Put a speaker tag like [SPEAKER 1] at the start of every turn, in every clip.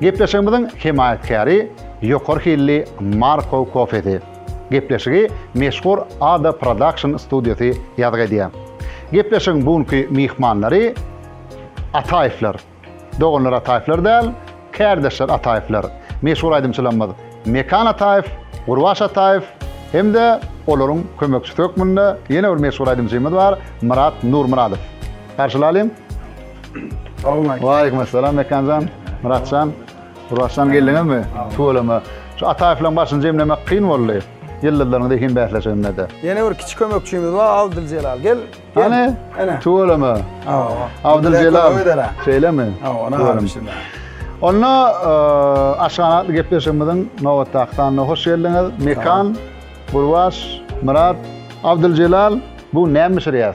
[SPEAKER 1] Gepleşigimiziň hemaýatkäri ýokary hilli Markow kofesi. Gepleşigi meşhur Ada Production studiýasy ýazgy edýär. Gepleşigiň bu günki myhmanlary Ataýewler. Doganlar Ataýewler däl, kärdeşler Ataýewler. Meşhur aýdymçylarymyz Mekan Ataýew, Gurbaş Ataýew hem-de olaryň kömekçisi hökmünde ýene bir meşhur aýdymçymyz bar, Myrat Nurmyradow. Garşylalyň! Salam. Waleýkim assalam Mekanjan, Myratjan. Gurbaçjan geldiňizmi? Tüweleme. Şu Ataýewleriň başyny jemlemek kyn boldy. Ýyldyzlaryň zehin bäsleşiginde-de. Ýene bir kiçi kömekçimiz bar, Abdyljelal. Gel. Hany? Ene. Tüweleme. Hawa. Abdyljelal. Şeýlemi? Hawa, ony alyp şunda. Onda aşgabatly gepleşigimiziň nobatdaky sanyna hoş geldiňiz. Mekan, Gurbaç, Myrat, Abdyljelal, bu näme bişirýäs?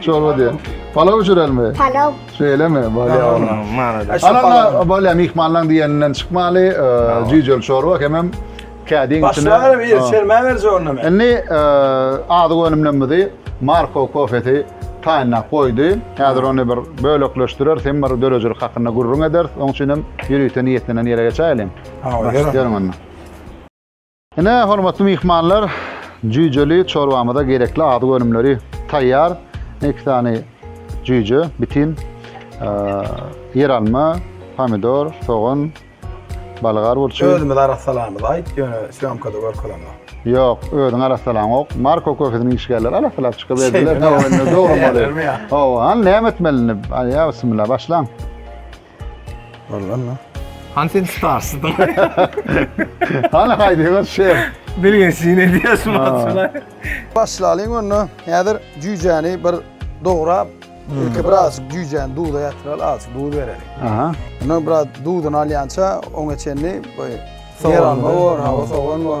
[SPEAKER 1] Çorba diýen. Palaw bişirelmi? Palaw. Şeýlemi? Bolýa onuň. Manada. Anana bolýa myhmanlaň diýeninden çykmaly, eee, jüýjeli çorba hemem kädiň içine. Başlaňam ir, Ha. çermä berje onda men. Indi eee, azyk önümlerimizi Marko kofesi taýynlap goýdy. Häzir ony bir bölekleşdireris, hem bir döredijilik hakynda gürrüň ederis. Oň üçin hem ýörite niýetlenen ýere geçäýeliň. Hawa, ýör onda. Ýörüň onda. Ine, hormatly myhmanlar, jüýjeli çorbamyza gerekli azyk önümleri taýýar. Iki sany jüýje, bitin, ýeralma, pomidor, sogan, balgar burçy. Özümiz arassalamyzy aýt, ýöne sýomkada görkezemok. Ýok, özüň arassalaňok. Marko köfesiniň işgärleri arassalap çykyberdiler. Dogry bolýar. Hawa, näme etmeli indi? Aýa, bismillah, başlaň. Boldan da. Han sen sparsdan. Hala haydi gör şey. Bilgen sine diyorsun maçına. Başlalyň onda. Häzir cücäni bir dograp, hmm. ilki biraz cücäni duza yatyraly, az duz bereli. Aha. Ondan biraz duzunu alyança, oňa çenli, böyle, yer alma var, hava soğan var.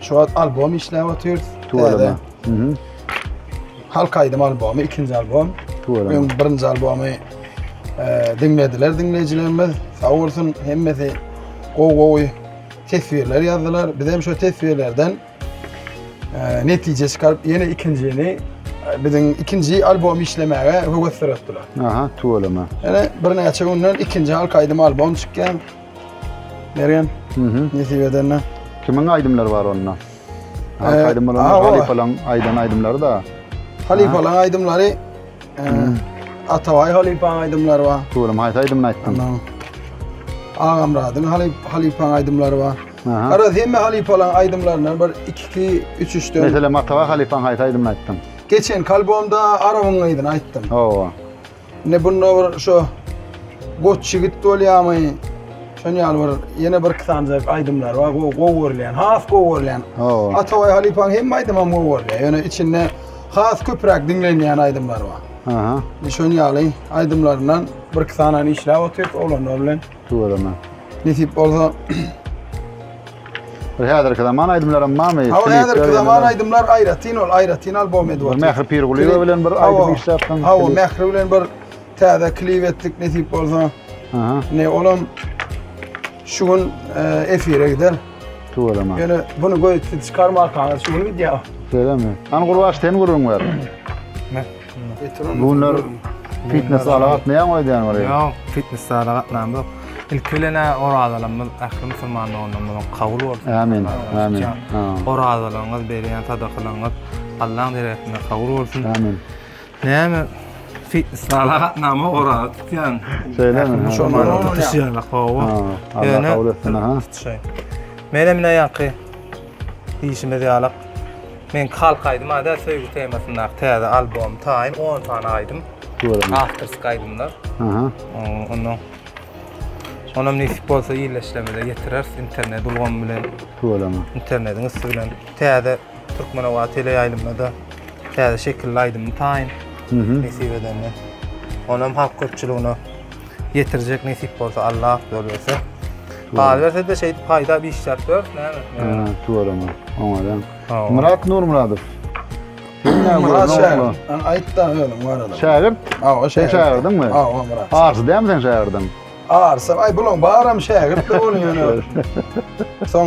[SPEAKER 1] Şu wagt albom işläp otyrys. Täze. Mhm. Halk aýdym albomy, ikinji albom. Öň birinji albomy e, diňlediler diňleýjilerimiz. Sag bolsun hemmesi gowy gowy teswirler ýazdylar. Biz hem şu teswirlerden e, netije çykaryp ýene ikinjini e, biziň ikinji albom işlemäge höwes döretdiler. Aha, tuwalama. Ýöne birnäçe günden ikinji halk aýdym albom çykýan. Mergen. Mhm. Nesip edende. Kimiň aýdymlary bar onda? Halk ee, aýdymlary, halypalaryň aýdan aýdymlary da. Halypalaryň aýdymlary mhm. Atabaý halypanyň aýdymlary bar. Turum haýsy aýdymyny aýtdyň? Agamradyň halyp halypanyň aýdymlary bar. Ara hemme halypalaryň aýdymlaryndan bir 2-2 3-3 dön. Meselem Atabaý halypanyň haýsy aýdymyny aýtdyň? Geçen kalbomda Arabyň aýdyny aýtdym. Hawa. Ine bunda bir şu Goç ýigit bolýamy? Şon ýaly bir ýene bir iki sany aýdymlar bar. Gowy gowy görülýän, has gowy görülýän. Hawa. Atabaý halypaň hemme aýdymam gowy görülýär. Ýöne içinde has köpräk diňlenýän aýdymlar bar. Aha. Şon ýaly aýdymlaryndan bir iki sanyny işläp otyryp oglanlar bilen. Döwreme. Nesip bolsa Bir häzirki zaman aýdymlaram barmy? Hawa Klipler häzirki ýene zaman bir- aýdymlar aýratyn ol aýratyn albom edip Bir atýar. Mähri Pirgulyýewa Klip- bilen bir Hawa, aýdym işläpdiň. Hawa klip. Mähri bilen bir täze klip etdik nesip bolsa. Aha, Ne olam şu gün e, efire gider. Döwreme. Ýöne bunu göýtdi çykarmarkaňyz şu gün gidýär. Şeýlemi? An gurbaş sen gürrüň ber. Bu günler fitnes zala gatnaýaňmy öýdýän bir? Ýok, fitnes zala gatnam ýok. Ilki bilen orazalarymyz ähli musulman doganlarymyzyň kabul bolsun. Amin. Amin. Orazalygyňyz, berýän sadakalaryňyz Allaň deregesinde kabul bolsun. Amin. Näme fitnes zala gatnama oraza tutýan. Şeýlemi? Musulmana tutýan. Hawa. Ýöne tutýan. Mene mine ýaky. Diýşimiz ýaly, Meňki halk aýdymy ady söýgi temasyndaky täze albom taýyn on sany aýdym. Göräýin. Awtorsk aýdymlar. Aha. Onda Onam nesip bolsa ýerleşdirmede ýetireris internet ulgamy bilen. Göräýin. Internetiň üsti bilen täze türkmen howa teleýaýlymynda täze şekilli aýdymy taýyn. Mhm. Nesip edende. Onam halk köpçüligine ýetirjek nesip bolsa Allah berse. Galaberse-de şeýdip haýdap işläp ýör, näme? Ha, tuweleme. Oňaýan. Myrat Nurmyradow. Myrat şägirt. Ana aýt-da özüň barada. Şägirt? Hawa, şägirt. Sen şägirdiňmi? Hawa, Myrat. Arsy dämi seň şägirdiň? Arsy, aý bulaň baram şägirt-le bolýan. Soň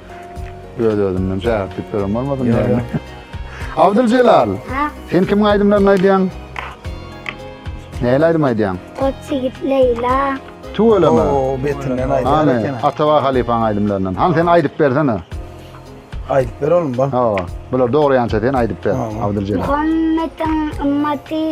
[SPEAKER 1] Öz özümden şäher tiplerim bolmasyn diýen. Abdul Celal. Ha. Sen kim aýdymlaryny aýdýaň? Näle aýdym aýdýaň? Koç ýigit Leýla. Tüweleme. Oo, betinden aýdýar Hani eken. Atawa halypaň aýdymlaryndan. Han sen aýdyp bersene. Aýdyp ber oğlum bak. Hawa. Bular dogry ýança sen aýdyp ber. Abdul Celal. Muhammediň ümmaty.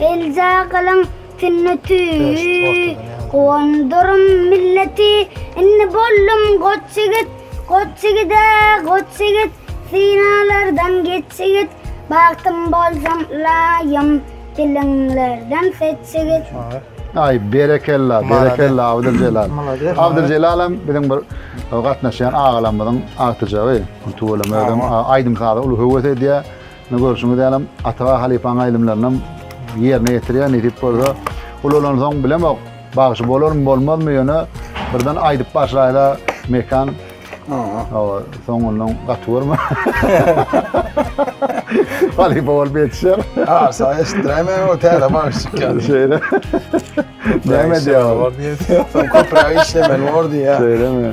[SPEAKER 1] Elja gylyň Sünneti Gondurum milleti Inni bollum goç ýigit Goç ýigide goç ýigit Synalardan geç ýigit Bagtym bolsam ylaýym Diliňlerden seç ýigit Aý berekella berekella Abdyljelal Abdyljelalem biziň bir gatnaşýan agalarymyzyň agtyjagy tüweleme özem aýdym saza uly höwes edýär. Indi görşüňiz ýalam, Ataga halypaň aýdymlarynam ýerine ýetirýär, nesip bolsa. Ulalansoň bilemok, bagşy bolarmy, bolmazmy, ýöne birden aýdyp başlaýla Mekan. Aha. Hawa, soňundan gaty görme. Halypa bolup ýetişer. Ha, sen eşitdiräýmäň o täze bagşyk ýaly. Şeýle. Näme diýýär? Sen köpräk işlemeli bor diýýär. Şeýlemi?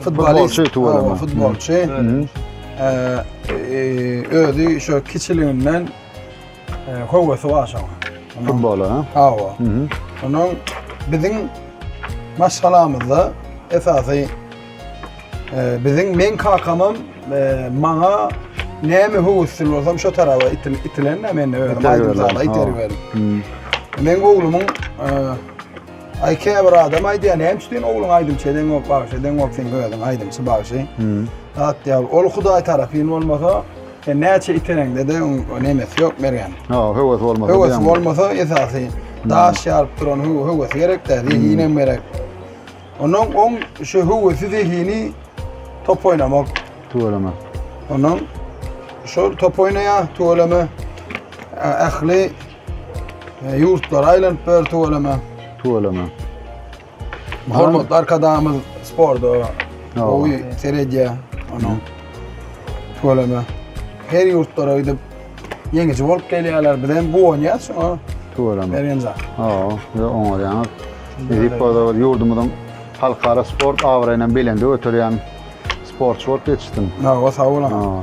[SPEAKER 1] Futbolçy tuweleme. Futbolçy. Özi şu kiçiliginden howasy var şoň. Futbola ha? Hawa. Onuň biziň maşgalamyzda esasy biziň men kakamam maňa näme howasly bolsam şu taraba itilen men özi aýdym zala iterip berdim. Men oglumyň Aý käbir adam aýdýar näme üçin sen ogluň aýdymçy edeňok bagşy edeňok sen özüň aýdymçy bagşy. Hat ýa ol hudaý tarapyn bolmasa sen näçe itereňde de nemesi ýok bergen. Ha höwes bolmasa. Höwes bolmasa esasy daş ýaryp duran höwes gerek de zehin hem gerek. Onuň on şu höwesi zehini top oýnamak. Tüweleme. Onuň şol top oýnaýa tüweleme ähli E, Ýurtlara aýlanyp ber tüweleme. Tüweleme. Hormatly arkadagymyz sporda gowy seredýär ony. Tüweleme. Her ýurtlara gidip ýeňiji bolup gelýärler. Biz hem guwanýas şoňa. Tüweleme. Bergen zat. Hawa, ýa oňarýaňyz. Edip bolsa bir ýurdumyzyň halkara sport abraýyny belende göterýän sportçy bolup ýetişsin. Hawa, sag boluň.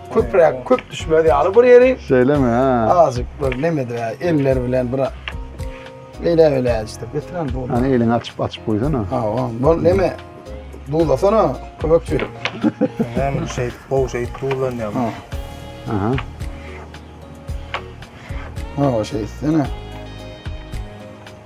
[SPEAKER 1] Köpräk köp düşmez ýaly bir ýeri. Şeýlemi? Ha. Azjyk bir neme de eller bilen bir Beýle beýle işte bitiren bu. Hani elini açyp açyp goýsana. Ha, o. Bu neme? Duzlasana köpekçi. Hem şeýt, gowy şeýt duzlanýar. Ha. Aha. Ha, o şeýtsene.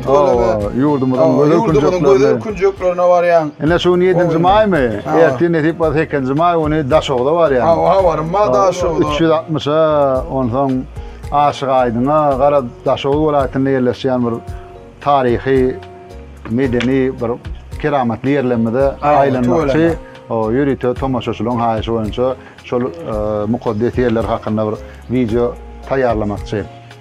[SPEAKER 1] Ýurduňyza, ýurduňyzyň gözel künjeklerine. gözel künjeklerine barýan. Ine şu gün 7-nji maýmy? Ertir nesip bolsa 8-nji maý güni Daşogza barýan. Hawa, habarym bar Daşogza. 360-a, onsoň Aşyk Aýdyňa, gara Daşoguz welaýatynda ýerleşýän bir taryhy, medeni bir keramatly ýerlerimize aýlanmakçy. Hawa, ýörite tomaşaçylaryň haýyşy boýunça şol mukaddes ýerler hakynda bir wideo taýýarlamakçy.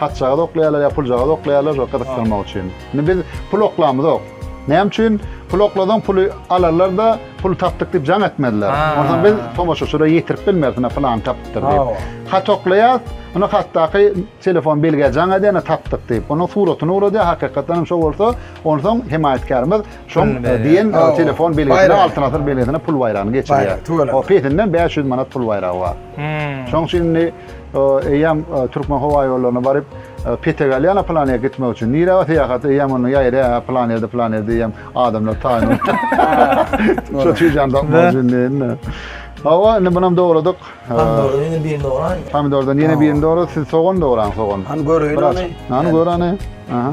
[SPEAKER 1] Haçjagazy oklaýarlar ýa puljagazy oklaýarlar şo gyzykdyrmak üçin. Indi biz pul oklamyzok. Näme üçin? Pul oklasaň puly alarlar-da, puly tapdyk diýip jaň etmezler. Onsoň biz tomaşaçylara ýetirip bilmeris, ine pylany tapypdyr diýip. Hat oklaýas, ine hatdaky telefon belgä jaň edýär, ine tapdyk diýip. Onuň suratyny ugradýar, hakykatdan hem şo bolsa, onsoň hemaýatkärimiz şoň diýen telefon belgisine, Altyn asyr belgisine pul baýragyny geçirýär. Pesinden bäş ýüz manat pul baýragy bar. Şoň üçin indi. Eýýäm Türkmenhowaýollaryna baryp, petek alýan a plan ýere gitmek üçin. Nirä bar syýahat? Eýýäm onda ýaýra, plan ýerde, plan ýerde eýýäm adamlar taýyn. Şo çüýjäni tapmak üçin diýende. Hawa, indi munam dograduk. Pomidordan ýene birini dograýyn. Pomidordan ýene birini dogra, siz sogan dograň, sogan. Hany göreýin ony. Hany gör ony. Aha.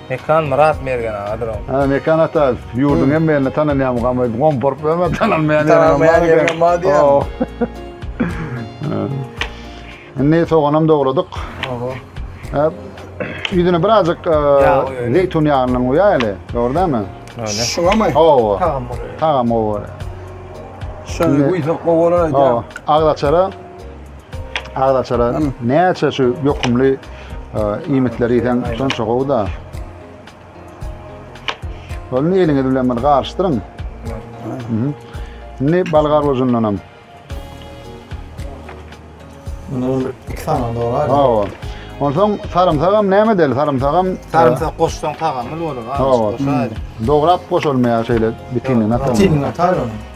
[SPEAKER 1] Mekan Myrat Mergen agadyr oň. Hä Mekan ata ýurduň hemme ýerinde tanalýan gam aýdyp gomparyp berme tanalmaýan ýeriňem bar diýýän. Indi soganam dogladyk. Oho. Hep ýüzüne birazjyk zeýtun ýagyndan guýaýaly, dogry dämi? Öyle. Şuňamy? Hawa. Tagam bolýar. Tagam gowy bolýar. Şöni guýsak gowy bolar aýdýan. Agzaçara Agz açaran näçe şu ýokumly e, iýmitleri ýeseň şonça gowy da. Ony eliňiz bilen bir garyşdyryň. Mhm. Indi balgar bojundan hem. Bunu iki tane doğru abi. Hawa. Onsoň sarymsak hem näme deli? Sarymsak hem Sarımsak koşsan tagamlı olur. Hawa. Dograp goşulmaýar şeýle bitinini atar. Bitinini atar onu.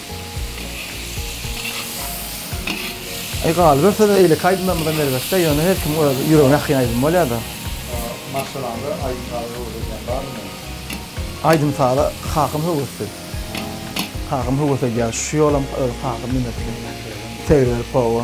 [SPEAKER 1] Eý galyberse-de eýleki aýdymlarymyzam erbetde, ýöne her kimiň öz ýüregine ýakyn aýdymy bolýar-da. Maşgalaňda aýdym-saza höwes edýän barmy indi? Aýdym-saza kakam höwesli. Kakam höwes edýär. Şu ýolam öz kakam diňletdi. Segiberip, hawa.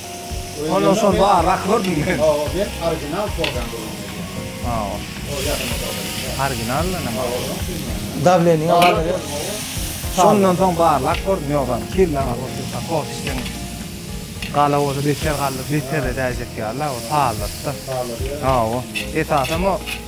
[SPEAKER 1] Onda şol bar rak gördüm men. Hawa ben original tordan gurban edýän. Hawa. Ol ýakynda tordan. Original da näme? Dawleniýa barlaýar. Şondan soň bar lak gördüm ýogsam kelle agyr bolsa ýa kos içseň gala bolsa beter galdyr beter edäýjek ýaly la o saldyryp da. Saldyryp. Hawa. Esasam o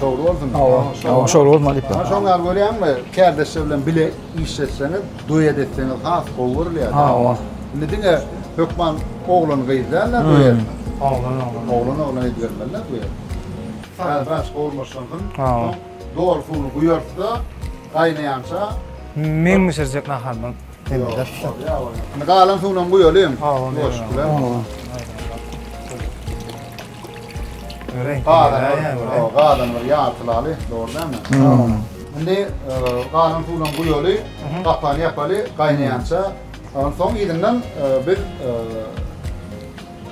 [SPEAKER 1] Şowly bolsun. Hawa, şowly bolsun Alyp. Ha şoň ýaly görýäňmi? Kärdeşler bilen bile iş etseňiz, duet etseňiz has gowy görülýär. Hawa. Indi diňe hökman oglan gyz däl-de duet. Oglan oglan. Oglan oglan edip bermeli-de duet. Saz biraz gowulaşansyn. Hawa. Dor suwuny guýarsa, gaýnaýança meň bişirjek naharymdan demizek. Indi galan suwunam guýalyň. Hawa, goşup bilen. Gadan bir ýartylaly, dogry dälmi? Indi galan suwuny guýaly, gapagyny ýapaly, gaýnaýança. Onsoň ýerinden biz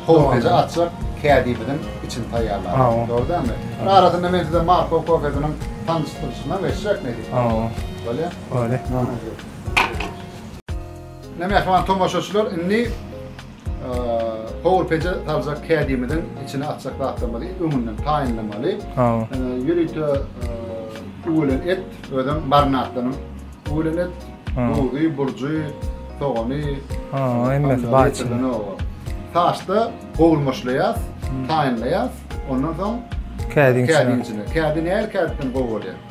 [SPEAKER 1] kofeje atjak kädimiziň içini taýýarlaýarys. Dogry dälmi? Arasynda men size Marko kofejiniň tanyşdyryşyna geçjek nädip? Bolýa? Bolýa. Mähriban tomaşaçylar, indi Howur peje saljak kädimiziň içine atjak zatlarymyzy öňünden taýynlamaly. Ýörite öwelen et, özem marinadlanan öwelen et, duzy, burjy, sogany, ähmiýeti bar içinde. Saçda gowulmaşlaýas, taýynlaýas. Ondan soň kädiň içine. Kädi nähili kädiden gowy bolýar?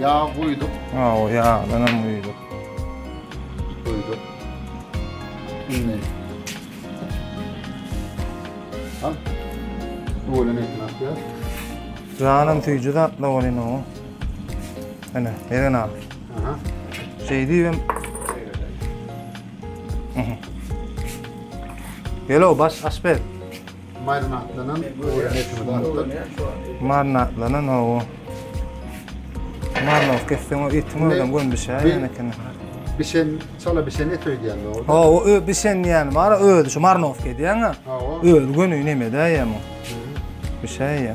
[SPEAKER 1] Ýag guýduk. Hawa, ýagdan hem guýduk. Guýduk. Indi. Al. Öwelen etini atýar. Janym süýji zatla bolýan o. Ana, eren al. Aha. Şey diýem. Gel o baş aşpez. Marinatlanan owoda näçe wagt? Marinatlanan owo. Marinow kesseň o etiň özem göm bişer ýene kene. Bişen, çala bişen et öýdýän o. Ha, o ö bişen ýan bar, özi şu marinow edýän ha. Özi göni nemede ýa mu? Bişer ýa.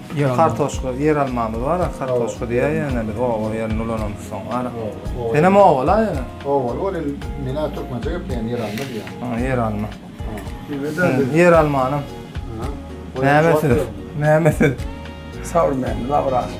[SPEAKER 1] Kartoşka, ýeralmamyz bar, kartoşka diýýär ýöne biz oba ýerinde ulanamyz soň. Senem oba-la ýöne. Obaly ol indi men-ä türkmençe gepleýän ýeralma diýýän. Ha, ýeralma. Ýeralmanyň nämesi? Nämesi? Saur mändi, labyrator.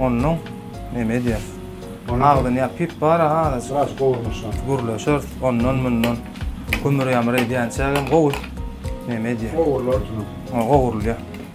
[SPEAKER 1] Ondan neme edýär? Agzyny ýapyp bar ha. Sraz gowurmuşa. Gürleşer, ondan mundan. Gümür-ýamyr edýänçägem gowy. Neme edýär? Gowurlar. Gowurulýar.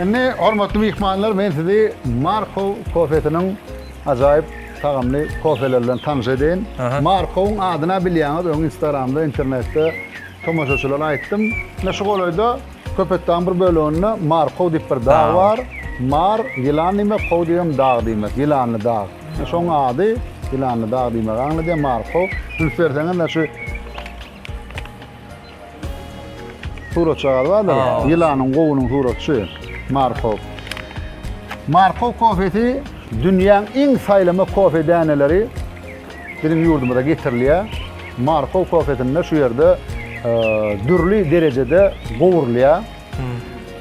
[SPEAKER 1] Indi hormatly myhmanlar men sizi Markow kofesiniň ajaýyp tagamly kofeleri bilen tanyş edeýin. Markowyň adyna bilýäňiz öň instagramda internetde tomaşaçylara aýtdym. Ine şu golaýda Köpetdagyň bir böleginde Markow diýip bir dag bar. Mar ýylan diýmek, kow diýibem dag diýmek. Ýylanly dag. Şoň ady ýylanly dag diýmegi aňladýar Markow. Üns berseňiz şu Suratçagaz bardyr. Ýylanyň gowunyň suratçy Markow. Markow kofesi dünýäň iň saýlama kofe däneleri biziň ýurdumyza getirilýär. Markow kofesinde şu ýerde dürli derejede gowurylýar.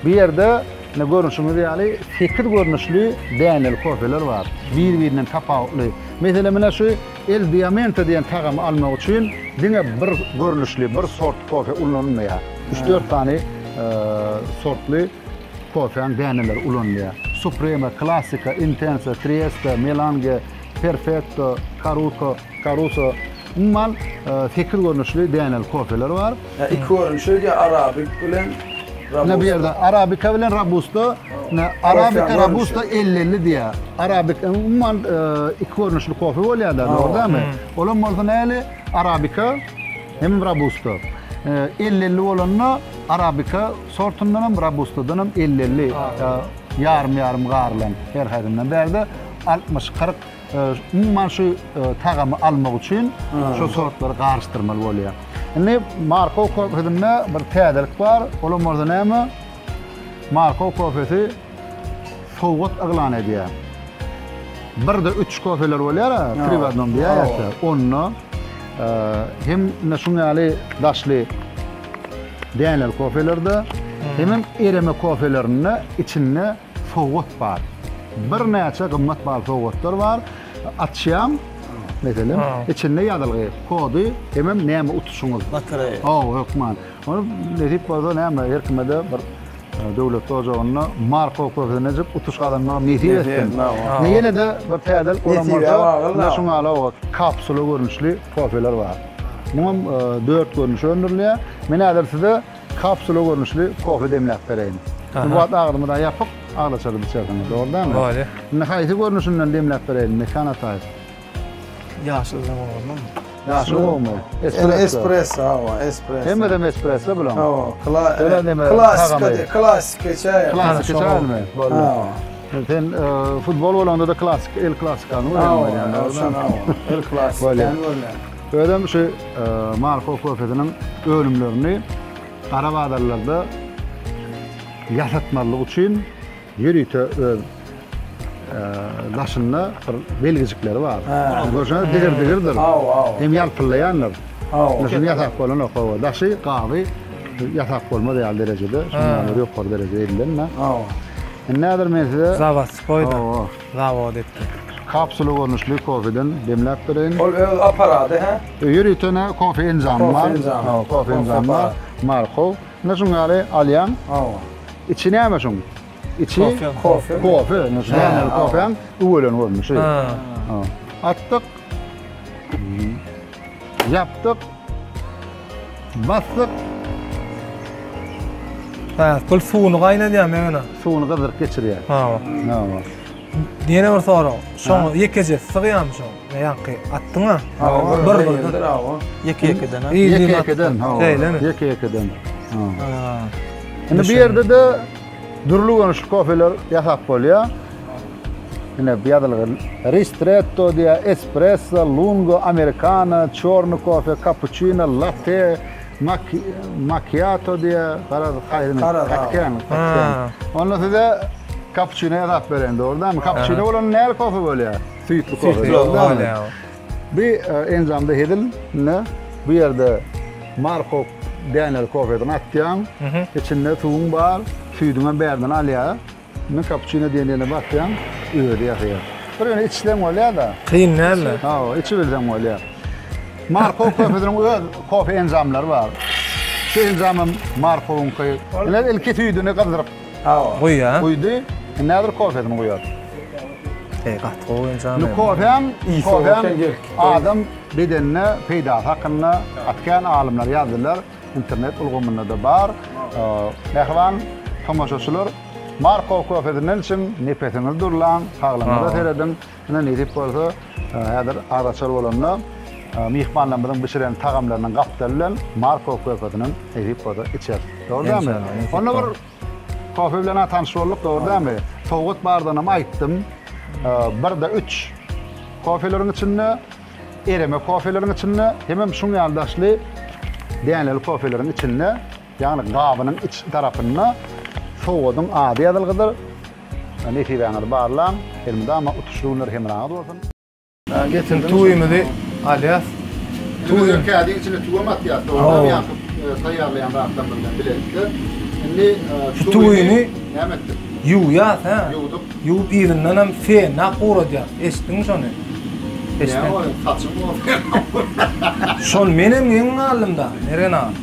[SPEAKER 1] Bu ýerde ine görnüşiňiz ýaly 8 görnüşli däneli kofeler bar. Bir-birinden tapawutly. Meselem ine şu El Diamante diýen tagamy almak üçin diňe bir görnüşli, bir sort kofe ulanylmaýar. Üç-dört sany sortly kofäň däneleri ulanylýar. Supreme, Klasika, Intensa, Trieste, Melange, Perfekto, Karuko, Karuso. Umuman, sekiz görnüşli däneli kofeler bar. Nä iki görün şeýdi ýa arabik bilen Robusta. Nä bu ýerde arabika bilen robusta, nä arabika robusta elli elli diýýär. Arabik umuman iki görnüşli kofe bolýar-da, dogry dälmi? Olam bolsa näli arabika hem robusta. Elli elli bolanda arabika sortundan hem robustadan hem elli elli ýarym ýarym garylan her haýsyndan bärde altmyş kyrk Umuman şu tagamy almak üçin şu sortlary garyşdyrmaly bolýar. Indi Markow kofesinde bir täzelik bar. Olam bolsa näme? Markow kofesi sowgat yglan edýär. Bir de üç kofeler bolýar, tri w adnom diýýärler. Onda hem şuň ýaly daşly däneli kofelerde, hemem ereme kofelerinde içinde Sowgat bar. Birnäçe gymmat baly sowgatlar bar. Açýaň, meselem, içinde ýazylgy, kody, hemem näme utuşyňyz. Batreýa. Hawa, hökman. Ony nesip bolsa näme, her kime-de bir döwletli ojagynda marka kösenejik utuş gazanmagy nesip etsin. Ine, ýene-de bir täzelik bolan bolsa, ine şu malawat, kapsula görnüşli kofeler bar. Muňam dört görnüşi öndürilýär. Men häzir size Kapsula görnüşli kofe demläp bereýin. Bu wagt agzymyz ýapyk, aglaçaryp içersiňiz, dogry dälmi? Dogry. Indi haýsy görnüşinden demläp bereýin, Mekan ataýew? Ýaşylydan bolmalymy? Ýaşyl bolmaly. Espresso. Espresso, hawa, espresso. Hemmedem espresso bular. Hawa, klasika, klasika çaý. Klasika çaýmy? Boldy. Sen futbol bolanda-da klasik, el klasikany görýäňmi? Hawa, hawa, el klasika. Bolýar. Özem şu mal howpsuzlygynyň önümlerini gara bazarlarda ýasatmazlyk üçin ýörite öz daşynda bir belgijikleri bar. Görşüňiz, digir-digirdir. Hem ýalpyllaýandyr. Şuny ýasap bolanok, hawa. Daşy, gaby ýasap bolmaz ýaly derejede, şundan ýokary derejede edilen-de. Indi häzir men size... Zawodskoý-da. zawod etdi. Kapsula görnüşli kofeden demläp bereýin. Ol öz apparady hä? Öýe ýöritene kofe enjamy bar. Kofe enjamy. Hawa, kofe enjamy bar. Markow. Ine şuň ýaly alýaň. Hawa. Içi näme şuň? Içi kofe. Kofe. Ine şu nämäli kofeň üwelen görnüşi. Hawa. Atdyk. Ýapdyk. Basdyk. Hä, gyl suwuny gaýnadýarmy ýöne? Suwuny gyzdyryp geçirýär. Hawa. Hawa. Ýene bir sorag. Şoň ýekeje sygýarmy şoň? Ýaňky atdyň-a? Hawa, bir birdir. Hawa. Ýeke-ýekeden. Ýeke-ýekeden, hawa. Ýeke-ýekeden. Hawa. Indi bu ýerde-de Dürli görnüşli kofeler ýasap bolýar. Ine bu ýazylgy ristretto diýä, espresso, lungo, amerikano, çorny kofe, kapuçino, latte, makiato diýä, garaz haýsy garaz kakten, kakten. Onda size kapuçino ýasap bereýin dogrudanmy? Kapuçino bolan näme kofe bolýar? Süýtli kofe. Süýtli bolýar. Bu enjamda hezil ne? Bu yerde Marko Daniel kofesini atýaň, içinde suwuň bar, süýdüňem bärden alýar. Indi kapuçino diýen ýerine basýaň, özi ýasaýar. Bir ýöne içseň bolýar-da. Kyn dälmi? Hawa, içibilseň bolýar. Marko kofesiniň öz kofe enjamlary bar. Şu enjamam Markowyňky. Ine, ilki süýdüni gyzdyryp. Awa. Guý ýa. Guýdy. Indi häzir kofesini guýar. Eý gaty gowy enjam. Indi kofem, kofem adam bedenine peýdasy hakynda gaty kän alymlar ýazdylar. Internet ulgamynda-da bar. Mähriban tomaşaçylar, Markow kofesini içiň, nepesiňizi durlaň, saglygyňyza serediň. Ine nesip bolsa häzir azaçar bolanda myhmanlarymyzyň bişiren tagamlarynyň gapdaly bilen Markow körfeziniň nesip bolsa içeris. Dogry dälmi? Onda bir kofe bilen tanyş bolduk, dogry dälmi? Sowgat bardanam aýtdym. Birde üç kofeleriň içinde, ereme kofeleriň içinde hemem şuň ýaly daşly däneli kofeleriň içinde Ýagny gabynyň iç tarapynda sowadyň ady ýazylgydyr. Nesibäňizi barlaň. Elmydama utuşly günler hemraňyz bolsun. Getir tüwimizi alýas. Tüwi kädiň içine tüwem atýas. Soňra ýakyp taýýarlaýan zatlarymyz bilen bilelikde. Indi şu tüwini näme etdik? Ýuwýas hä? Ýuwdyk. Ýuwup yzyndan hem fenna guradýas. Eşitdiňmi şony? Eşitmedim. Näme saçyň gurasy. Şony menem geň galdym da Mergen aga.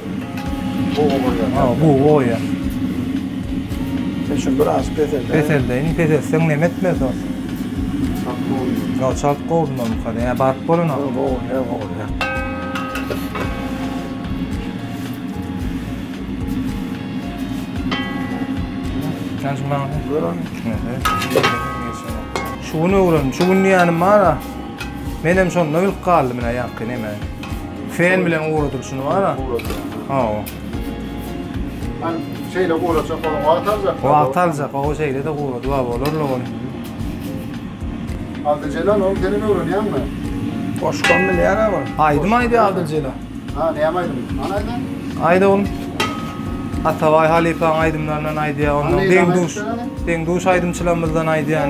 [SPEAKER 1] Bugy gurýan. Ha, bugy goýýan. Sen şuny biraz peseldeý. Peseldeýin, peseltseň näme etmez dos. Çalt gowumy? Ýok, çalt gowy bolmasa, ýa baryp bolanok. Gowy, gowy, hä gowy, hä. Sen şuny maňa ber. Ber ony. Şu gün öwrendim, şu gün diýýänim bar-a. Menem şonda bilip galdym ine ýaňky nemäni. Fen bilen ugradylyşyny bara. Hawa. An şeýle guraça goň wagt aljak. Wagt aljak, o şeýle de gurady baba bolar la ol. Aldy Celal ol seni öwrenýärmi? Goşgam bilýär ha ol. Aýdym aýdýar Aldy Celal. Ha, näme aýdym? Ana aýdym. Aýda oglum. Atabaý halypaň aýdymlaryndan aýdýar, ondan deň duş, deň duş aýdymçylarymyzdan aýdýar.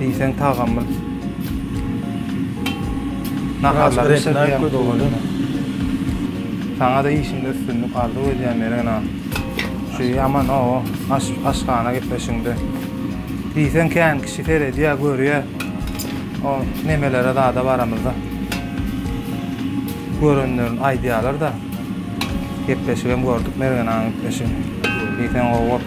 [SPEAKER 1] Diýseň tagamly. Naharlary bişirýän ködügini. Saňa-da işiňde üstünlik arzuw edýän Meren aga. Şu ýaman o aş aşhana gitmeşiňde. Diýseň kän kişi seredýär, görýär. O nemelere zada baramyzda. Görenlerin aýdýarlar-da. Gepleşigem gördük Meren agaň gepleşigini. Diýseň gowy bolup.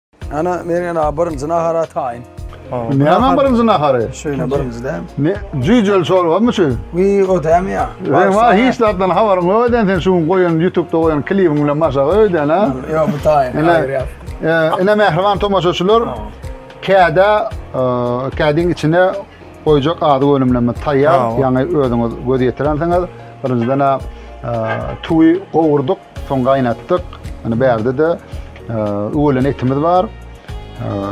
[SPEAKER 1] Ana men ýa birinji nahara taýyn. Näme birinji nahary? Şöýle birinji däm. Ne? Jüýjeli çorbamy şu? Wi, o däm ýa. Sen wa hiç zatdan habaryň ýok eden sen şu gün goýan YouTube-da goýan klibiň bilen maşaga öýden ha? Ýok, bu taýyn. Ine, ine mähriban tomaşaçylar, käde kädiň içine goýjak azyk önümleme taýýar. Ýaňy özüňiz göz ýetirensiňiz. Birinjiden-ä tuwy gowurdyk. Soň gaýnatdyk. Ýöne bärde-de öwelen etimiz bar.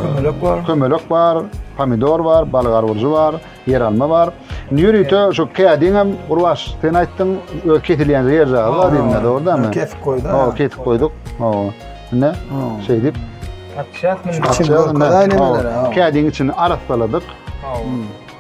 [SPEAKER 1] Kömelek bar. Kömelek bar, pomidor bar, balyk arwurjy bar, ýeralma bar. Indi ýörite şu kädiň hem Gurbaş, sen aýtdyň, öz kesilýän ýer jaýy bar diýdiňiz, dogrudanmy? Kesip goýduk. Hawa, kesip goýduk. Hawa. Indi şeýdip Kädiň içini arassaladyk. Hawa.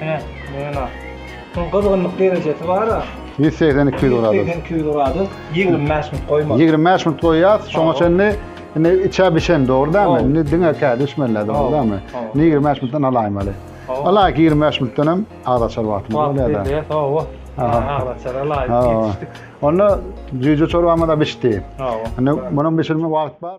[SPEAKER 1] Hine, mena. Şuň gyzgynlyk derejesi bar-a. Ýüz segsen, iki ýüz gradus. Ýüz segsen, iki ýüz gradus. Ýigrimi bäş minut goýmaly. Ýigrimi bäş minut goýýas. Şoňa çenli indi içä bişen, dogry dälmi? Indi diňe kä düşmeliler, dogry dälmi? Indi ýigrimi bäş minutdan alaýmaly. Alaýyk, ýigrimi bäş minutdan hem az açar wagtymyz bolýar-da. Wagt berýär, hawa. Az açar alaýyk, ýetişdik. Onda jüýje çorbamyz-a bişdi. Hawa. Indi munuň bişirme wagt bar.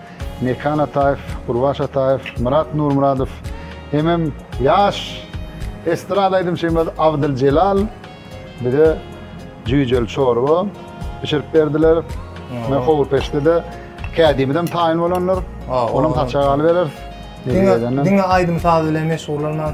[SPEAKER 1] Mekan Ataýew, Gurbaş Ataýew, Myrat Nurmyradow hemem ýaş estrada aýdymçymyz Abdyl Jelal bize jüýjeli çorba bişirip berdiler. Mine howurpeçde-de kädimizem taýyn bolandyr. Onam saçak alybereris. Diňe aýdym-saz bilen meşgullanman.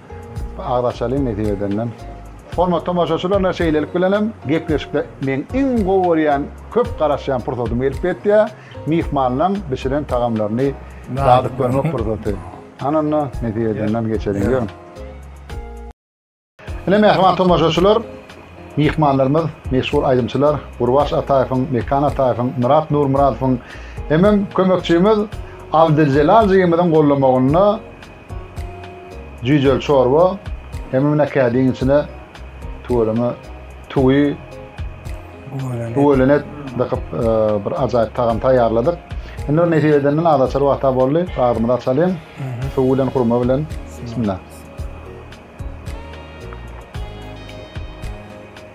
[SPEAKER 1] Agzaçaly mesij edenden. Hormatly tomaşaçylar ine şeýlelik bilen hem gepleşikde meň iň gowy görýän köp garaşýan pursatym gelip ýetýär, myhmanlaň bişiren tagamlaryny dadyp görmek pursaty. Hany onda mesij edenden geçeliň ýörüň. Ine mähriban tomaşaçylar myhmanlarymyz meşhur aýdymçylar Gurbaş Ataýewiň, Mekan Ataýewiň, Myrat Nurmyradowyň hemem kömekçimiz Abdyljelal jigimiziň gollamagynda Jüýjeli çorba hemem näkädiň içine tüweleme tüwi tüweleme dakyp bir ajaýyp tagam taýýarladyk. Indi bir nesip edenden az açar wagta boldy. Agzymyzy açalyň. Suw bilen hurma bilen. Bismillah.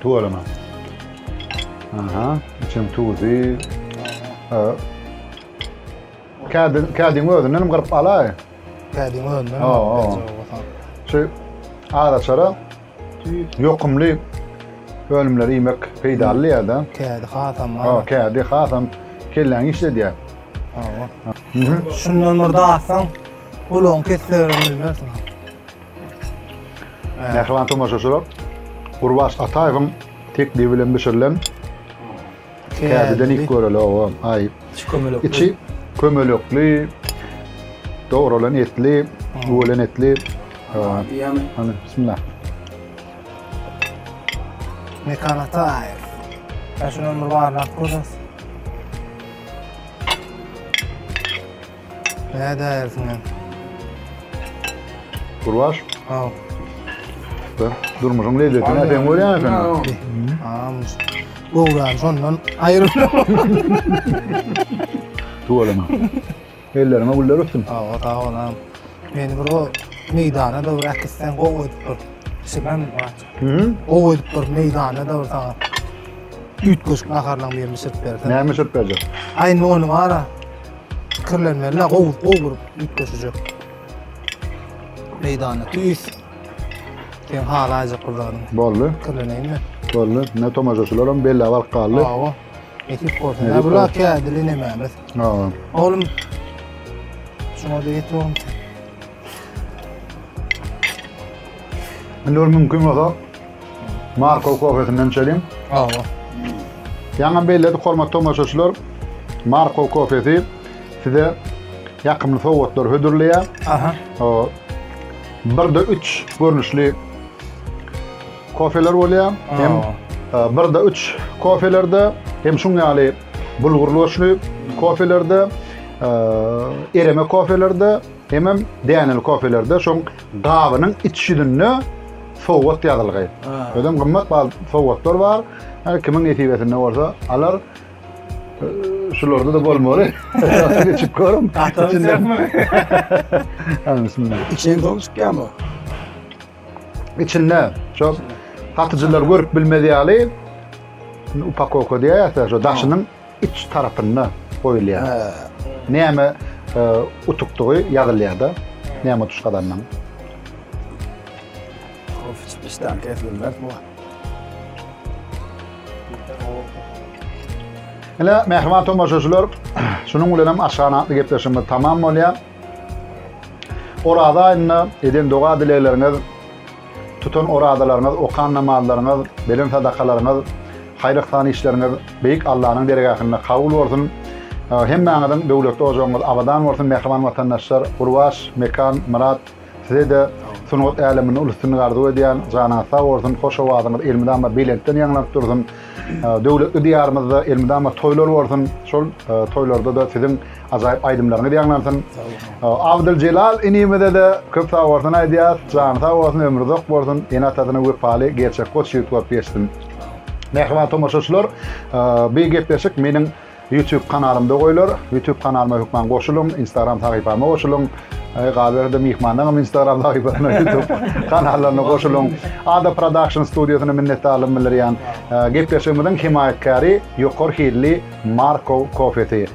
[SPEAKER 1] Tug alama. Aha, içim tuzi. Kädi, kädi özünden hem kırıp alay. Kädi özünden. Ha, ha. Şey, ara çara yokumlu önümleri yemek peydalı ya da. Kädi hasam. Ha, kädi hasam kellen işledi ya. Ha, ha. Şundan bir dağıtsan. Ulagyň kessegirini bilmersiň. Mähriban tomaşaçylar, Gurbaş Ataýewiň teklibi bilen bişirilen kädiden iýip göreli, oba, aý. Içi kömelekli. Içi kömelekli, dogralan etli, öwelen etli. Hany, bismillah. Mekan Ataýew. Şunuň bir baryny alyp görseňiz. Nädäýersiň hem. Gurbaş. Haw. Dur. Durmuşyň lezzetini nädeň görýäň sen? Haw. Gowran şondan aýrylyp. Tuwalama. Elleriňe güller ötsün. Haw, sag bol ham. Meni bir o meýdana da bir äkitseň gowy edip dur. Şibem bar. Hı? Gowy edip dur meýdana da bir saňa. Üýtgeşik naharlaryň birini bişirip bersen. Näme bişirip berjek? Aýny ony bar-a. Kirlenmeli, gowy, gowy gurup üýtgeşijek. Meýdanda tüýs. Sen halaýjak bir zadyň. Boldy. Kirleneýinmi? Boldy. Ne tomaşaçylar hem belli alyp galdy. Hawa. Ekip bolsa. Ne bular kädili nemämiz. Hawa. Oğlum. Şuna da et oğlum. Indi ol mümkün bolsa Marko kofesinden içelim. Hawa. Ýaňam belledik hormatly tomaşaçylar. Marko kofesi size ýakymly sowgatlar hödürleýär. Aha. O, birde üç görnüşli kofeler bolýar. Hem e, birde üç kofelerde hem şun ýaly bulgurly göçli kofelerde, e, ereme kofelerde, hemem däneli kofelerde şoň gabynyň iç ýüzünde sowgat ýazylgy. Özem gymmat bal sowgatlar bar. Her kimiň nesibesinde bolsa alar. Şularda da bolmaly. Geçip görüm. İçinden dolu çıkýan bu. İçinde şu satyjylar görüp bilmez ýaly upakovka diýýär, şu daşynyň Üç tarapynda goýulýar. He. Näme utukdygy ýazylýar-da. Näme utuş gazandygyň. Of, işdäň kesilmez bu. Ine, mähriban tomaşaçylar, şunuň bilen hem aşgan atly gepleşigimiz tamam bolýar. Oraza aýynda eden doga-dilegleriňiz Tutan orazalaryňyz, okan namazlaryňyz, beren sadakalaryňyz, haýyr-yhsan işleriňiz Beýik Allanyň dergähinde kabul bolsun! Hemmäňiziň döwletli ojagyňyz abadan bolsun, mähriban watandaşlar! Gurbaş, Mekan, Myrat, size-de sungat äleminde uly üstünlik arzuw edýän! Janyňyz sag bolsun, hoş owazyňyz elmydama belentden ýaňlanyp dursun! Döwletli Diýarymyzda elmydama toýlar bolsun! Şol toýlarda-da siziň Ajaýyp aýdymlaryňyz ýaňlansyn. Sag boluň. Abdyl Jelal inimize-de köp sag bolsun aýdýas. Jany sag bolsun, ömri uzak bolsun. Ene-atasyna wepaly, gerçek goç ýigit bolup ýetişsin. Mähriban tomaşaçylar, bi gepleşik meniň YouTube kanalymda goýlar. YouTube kanalyma hökman goşulyň, Instagram sahypama goşulyň. Galyberse-de myhmanlaryňam Instagram sahypalaryna, YouTube kanallaryna goşulyň. Ada Production studiýasyna minnetdarlygym bildirýän. Gepleşigimiziň hemaýatkäri ýokary hilli Markow kofesi.